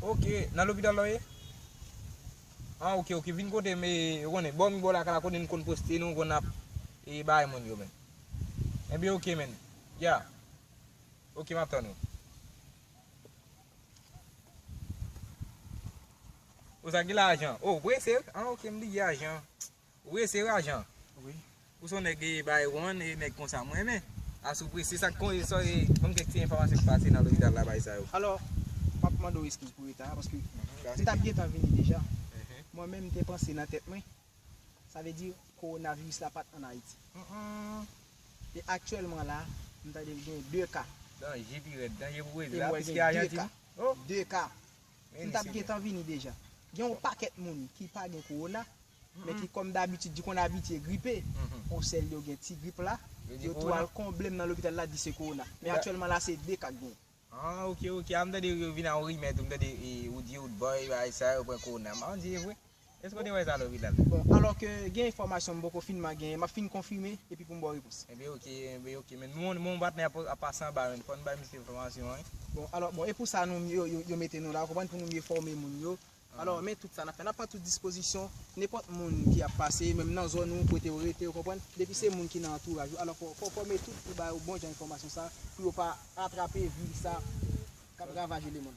Ok nan lopital la w ye? An ok ok vin kote m e ou konnen bò mi bò lakay la kote n konn poste nou konn ap e bay moun yo men. Ebyen ok men. Ya. Ok m ap tann ou. Ou sa gen lajan? Ou prese? An ok m di gen lajan. Wi se rajan wi. Ou son nèg bay ron e nèg konsa m renmen. A sou prese sak kon e sòry banm kèk ti enfòmasyon ki pase nan lopital la bay sa yo. Alò map mande w eskiz pou reta a paske m tap gentan vini deja. Mwen menm m te panse nan tèt mwen sa vle di kowonaviris la pat an Ayiti. E aktyèlman la m tande l gen 2 ka. Danje pi rèd. Danje pou Brezil la plis ke Ajantin. 2 ka. M tap gentan vini deja. Gen yon pakèt moun ki pa gen kowona, men ki kòm dabitid di konn abitye gripe, o sèl yo gen ti grip la, yo tou al konble m nan lopital la di se kowona. Men aktyèlman la se 2 ka k genyen. Ah ok ok, a m tande yo vin a yon rimè tou, m tande e ou di oldboy bagay sa yo pran kowona, m pa konn si e vre. Èske w te wè sa tou Vidal? Bon, alò ke gen enfòmasyon m poko fin man genyen, m ap fin konfime epi pou m ba w repons. Enben ok, enben ok. Men nou menm patnè a ap pase anba menn, fò n bay misye enfòmasyon an. Bon, alò, bon, e pou sa nou, yo mete nou la, ou konprann, pou nou mye fòme moun yo. Alò, men tout sa n ap fè, n ap pran tout dispozisyon, nenpòt moun ki ap pase, menm nan zòn ou, kote ou rete, ou konprann, depi se moun ki nan antouraj ou, alò fò w fòme tout pou ba yo bon jan enfòmasyon sa pou yo pa atrape viris sa k ap ravaje lemonn.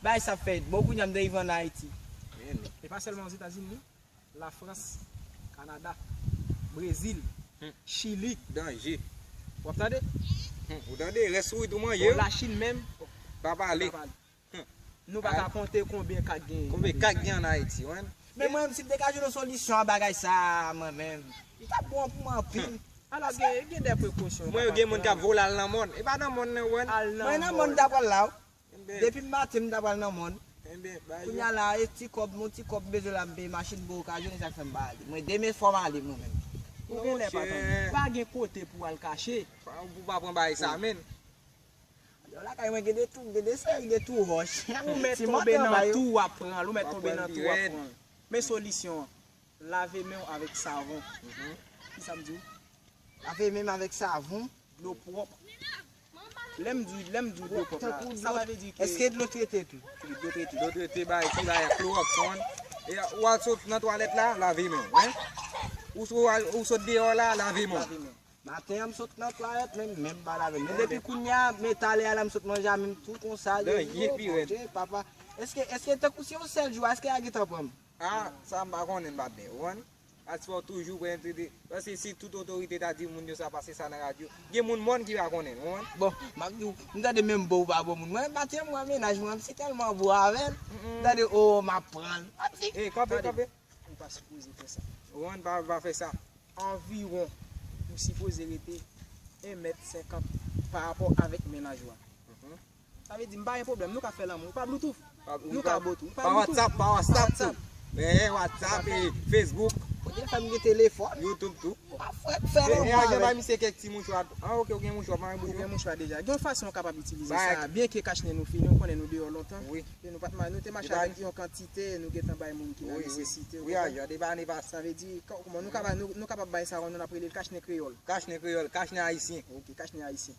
Bagay sa fè bon kounya m derive an Ayiti. Menn. E pa sèlman Ozetazini, la Frans, Kanada, Brezil, Chili. Danje. W ap tande? Humm ou tande rès fwit ou manje yo. Bon la Chine menm. Pa pale. Humm. Nou pa ka konte konbyen ka gen. Konbyen ka gen an Ayiti ou menn. Men mwen menm si m te ka jwenn yon solisyon a bagay sa mwen menm. Li tap bon pou mwen anpil. Ala gen de prekosyon ou ka pral pran. Mwen yo gen moun kap vole al nan mòn. E pa nan mòn nan ou wè. Al nan mòn. Mwen nan mòn m ta pral la ou. Depim maten m ta pral nan mòn Kounya la e ti kòb m ti kòb m bezwen la m peye machin bon okazyon e sak fèm pa ale mwen demen fòm ale mwen menm Ou gen lè pa tande. Pa gen kote pou al kache. Pou pa pran bagay sa menn. Yo lakay mwen gen de tou gen de seri de tou wòch. Ou mèt tonbe nan tou wap pranl ou mèt tonbe nan tou wap pranl men solisyon an. Lave men w avèk savon. Ki sa m di w? Lave men m avèk savon, dlo pwòp. Lè m di w dlo pwòp la, sa pa vle di ke. Eske dlo trete tou? Wi, dlo trete. Dlo trete bay ki bay klowòks ou konn. E ou al sot nan twalèt la, lave men w. Ou sot deyò la, lave men w. Lave men w. Maten an m sot nan twalèt men m, men m pa lave men m. Depi kounye a, men talè a la m sot manje a men m tou konsa. Dèyè pi rèd. Eske tankou se yon sèl jou a, eske a gen tan pran m? Ah sa m pa konnen m pa byen konprann. As fòw toujou pran entreteni. Paske si tout otorite ta di moun yo sa pase sa nan radyo. Gen moun mòn ki pa konnen, ou konprann. Bon, m ap di w, m tande menm bon ou pa bon moun. Mwen pati m pran mennaj mwen, m si tèlman bon avè l, m tande oo m ap pran l. M ap di. Ey kanpe kanpe. Ou pa sipoze fè sa. Ou konprann, pa pa fè sa. Anviwon ou sipoze rete 1 mèt 50 parapò avèk mennaj ou a. Sa vle di m pa gen pwoblèm, nou ka fè lanmou pa bloutouf? Nou ka bo tou? Pa whatsapp, pa whatsapp tou? Eeh whatsapp e facebook. Ou gen fèm gen telefòn? Youtube tou? Ou pa frèt fè lanmou avèm? Eeh ajan bay misye kèk ti mouchwa tou? Ah ok ou gen mouchwa, ou pa gen bouch ou? Gen mouchwa deja. Gen yon fason ou kapab itilize sa a byen ke kachnen nou fini ou konnen nou deyò lontan. Wi. E nou pat nou te mache avèk yon kantite nou gentan bay moun ki nan nesesite ou konprann? Wi wi. Wi ajan depi ane pase. Sa vle di kòman nou kapab nou kapab bay sa yon non n ap rele l kachnen kreyòl? Kachnen kreyòl, kachnen ayisyen. Ok kachnen ayisyen.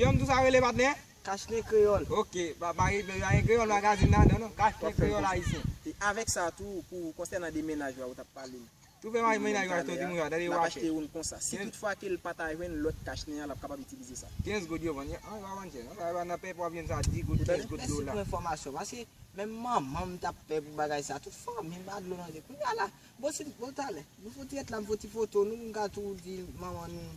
Yon tou sa rele patnè? Kachnen kreyòl. Ok, pa pa rive yo ayen kreyòl magazin nan, non non, kachnen kreyòl ayisyen. E avèk sa tou, pou konsènan de mennaj la ou t ap pale l. Tou fè mennaj ou achte w ti mouchwa, tande w ap achte youn konsa. Si tout fwa ke l pa ta jwenn lòt kachnen an, l ap kapab itilize sa. 15 goud yo vann yo. An, yo pa vann chè non. Sa yo vann nan pè pwavyèn sa a 10 goud, 15 goud, dola. Mèsi pou enfòmasyon. Paske, menm manman m t ap pè pou bagay sa a. Tout fanmi m ba dlo nan je. Kounye a la, bon si, bon talè, m fè yon ti èt la, m fè yon ti foto nou pou m ka tou di manman nou.